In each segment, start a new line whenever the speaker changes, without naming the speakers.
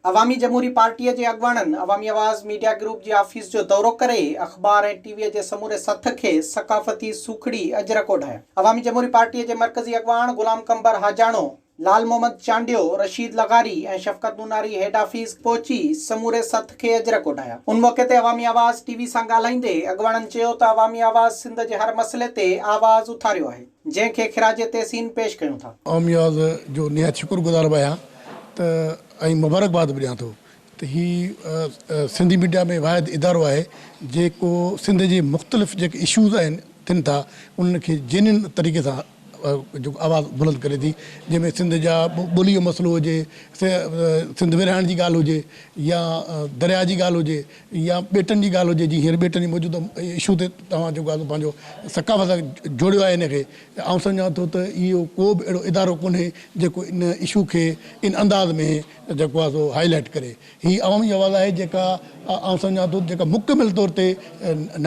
عوامي جمهوري پارٽيء جي اڳواڻن عوامي آواز ميڊيا گروپ جي آفيس جو دورو ڪري اخبار ۽ ٽي ويء جي سموري سٿ کي ثقافتي سوکڙي اجرڪ اوڍايا. عوامي جمهوري پارٽيء جي مرڪزي اڳواڻ غلام قنبر حاجاڻو، لعل محمد چانڊيو، رشيد لغاري ۽ شفقت نوناري هيڊ آفيس پهچي سموري سٿ کي اجرڪ اوڍايا. ان موقعي تي عوامي آواز ٽي وي سان ڳالهائيندي اڳواڻن چيو ته عوامي آواز سنڌ جي هر مسئلي تي آواز اٿاريو آهي. جنهن کي خراج تحسين پيش ڪيون ٿا. آمياز جو
نهايت شڪر گذار به آهيان ته ۽ مبارڪباد به ڏيان ٿو ته هي سنڌي ميڊيا ۾ واحد ادارو آهي جيڪو سنڌ جي مختلف جيڪي اشوز آهن ٿين ٿا انهن کي جينين طريقي سان جيڪو آواز بلند ڪري ٿي جنهن ۾ سنڌ جا ٻولي جو مسئلو هجي سنڌ ورهائڻ جي ڳالهه هجي يا درياء جي ڳالهه هجي يا ٻيٽن جي ڳالهه هجي جي هينئر ٻيٽن جي موجوده اشو تي توهان جيڪو آهي پنهنجو ثقافت سان جوڙيو آهي ان کي ته آئون سمجهان ٿو ته اهو ڪو به اهڙو ادارو ڪونهي جيڪو ان اشو کي ان انداز ۾ جيڪو آهي سو هائي لائيٽ ڪري هي عوامي آواز آهي جيڪا آئون سمجهان ٿو جيڪا مڪمل طور تي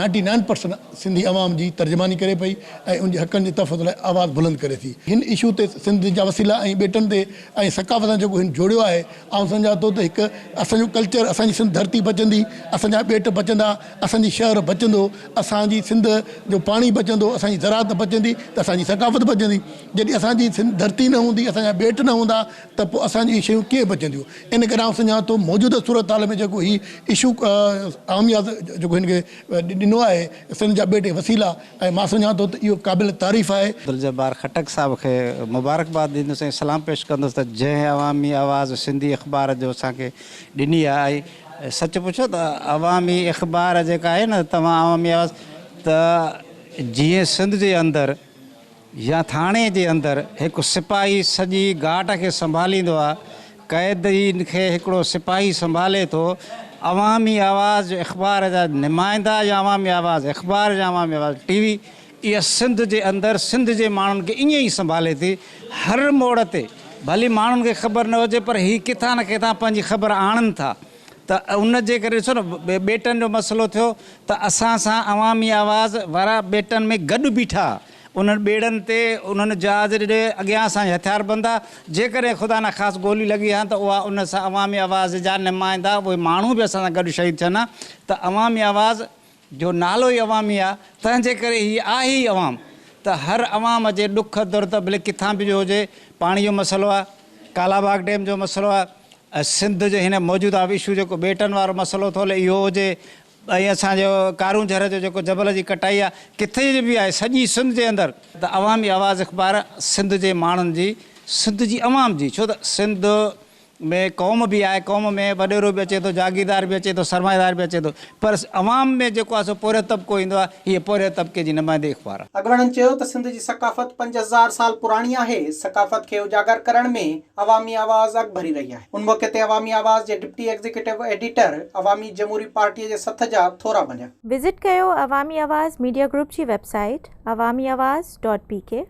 نائنٽي نائن پرسنٽ سنڌي عوام جي ترجماني ڪري پئي ۽ ان جي حقن جي تحفظ لاء آواز بلند ڪري ٿي هن اشو تي سنڌ جا وسيلا ۽ ٻيٽن تي ۽ ثقافت سان جيڪو هن جوڙيو آهي آئون سمجهان ٿو ته هڪ اسان جو ڪلچر اسان جي سنڌ ڌرتي بچندي اسان جا ٻيٽ بچندا اسان جي شهر بچندو اسان جي سنڌ جو پاڻي بچندو اسان جي زراعت بچندي ته اسان جي ثقافت بچندي جڏهن اسان جي سنڌ ڌرتي نه هوندي اسان جا ٻيٽ نه هوندا ته پوء اسان جون هي شيون ڪيئن بچنديون ان ڪري آئون سمجهان ٿو موجوده صورت حال ۾ جيڪو هي اشو آمياز جيڪو هن کي ڏنو آهي سنڌ جا ٻيٽ وسيلا ۽ مان سمجهان ٿو ته اهو قابل تعريف آهي. عبدالجبار خٽڪ
صاحب کي مبارڪباد ڏيندس ۽ سلام پيش ڪندس ته جنهن عوامي آواز سنڌي اخبار جو اسان کي ڏني آهي ۽ سچ پڇو ته عوامي اخبار جيڪا آهي نه توهان عوامي آواز ته جيئن سنڌ جي اندر يا ٿاڻي جي اندر هڪ سپاهي سڄي گاٽ کي سنڀاليندو آهي، قيدين کي هڪڙو سپاهي سنڀالي ٿو، عوامي آواز جو اخبار جا نمائندا يا عوامي آواز اخبار يا عوامي آواز ٽي وي اها سنڌ جي اندر سنڌ جي ماڻهن کي ائين ئي سنڀالي ٿي هر موڙ تي ڀلي ماڻهن کي خبر نه هجي پر هي ڪٿان نه ڪٿان پنهنجي خبر آڻن ٿا ته ان جي ڪري ڏسو نه ٻيٽن جو مسئلو ٿيو ته اسان سان عوامي آواز وارا ٻيٽن ۾ گڏ بيٺا انهن ٻيڙن تي انهن جهاز جي اڳيان اسان جي هٿيار بند آ، جيڪڏهن خدا نا خاست گولي لڳي ها ته اها ان سان عوامي آواز جا نمائندا اهي ماڻهو به اسان سان گڏ شهيد ٿين ها ته عوامي آواز جو نالو ئي عوامي آ تنهن جي ڪري هي آهي ئي عوام ته هر عوام جي ڏک درد ڀلي ڪٿان به جو هجي پاڻي جو مسئلو آ ڪالا باغ ڊيم جو مسئلو آ سنڌ جي هن موجوده اشو جيڪو ٻيٽن وارو مسئلو ٿو هلي اهو هجي ۽ اسان جو ڪارون جھر جو جيڪو جبل جي ڪٽائي آ ڪٿي جي به آهي سڄي سنڌ جي اندر ته عوامي آواز اخبار سنڌ جي ماڻهن جي سنڌ جي عوام جي ڇو ته سنڌ ۾ قوم به آهي قوم ۾ وڏيرو به اچي ٿو جاگيردار به اچي ٿو سرمائيدار به اچي ٿو پر عوام ۾ جيڪو آهي سو پورهيو طبقو ايندو آهي هيء پورهيي طبقي جي نمائندي اخبار آهي. اڳواڻن چيو ته سنڌ جي
ثقافت پنج هزار سال پراڻي آهي ثقافت کي اجاگر ڪرڻ ۾ عوامي آواز اڳڀري رهي آهي. ان موقعي تي عوامي آواز جي deputy executive editor Awami Jamhoori پارٽيء جي سٿ جا ٿورا بنيا. وزٽ ڪيو
عوامي آواز ميڊيا گروپ جي web
site
Awami Awaz dot P ڪي.